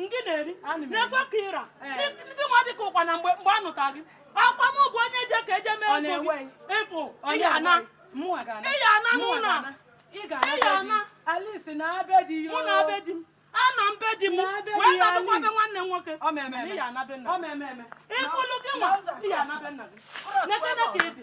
ngị na-eri na-ekwe ka ịra eh. gị nwa dị ka ụkwa na mgbe mgbe a nụta gị akwa m bụ onye je ka eje mee ego gị ị fụ ị ya-ana ị ya-ana n'ụlọ ị ya-ana Alice naa be di yo mụ naa be di m anọ m be di m wee nọdụkwa be nwanne m nwoke ị ya-ana be nna gị ị fụlụ gị nwa ị ya-ana be nna gị n'ebe na ka ị dị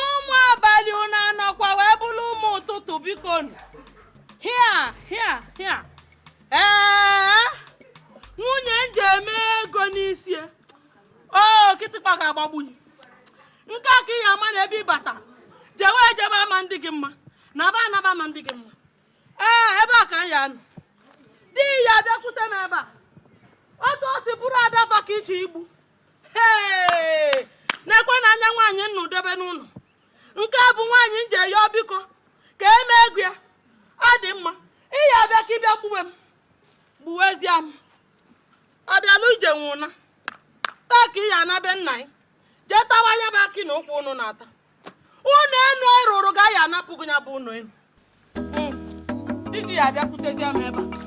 ụmụ abalị unu anọkwa wee bụrụ ụmụ ụtụtụ biko hia hia hia ee nwunye m je mee ego n'isi e. o kịtịkpa ga-agbagbu ya nke a ka ị ya-ama na ebe ị bata jewe ejebe ama adị gị mma naba anaba ama adị gị mma ee ebe a ka m ya-anọ di gị ya-abịakwute m ebe a otu o si bụrụ adafa ka i che ị bụ nekwanụ anya nwaanyị m nụ debe n'ụlọ nke a bụ nwaanyị m je yịọ biko ka e mee ego ya ọ dị mma ị ya-abịa ka ị bịa gbuwe m gbuwezie m ọ bịala ije nwụna taa ka ị ya-ana be nna gị jee tawa ya bụ akị na ụkwa ụnụ na-ata ụnọ enu ị rụrụ ga ya-anapụ gị ya bụ ụnọ enu hmm. di gị ya-abịakwutezie m ebe a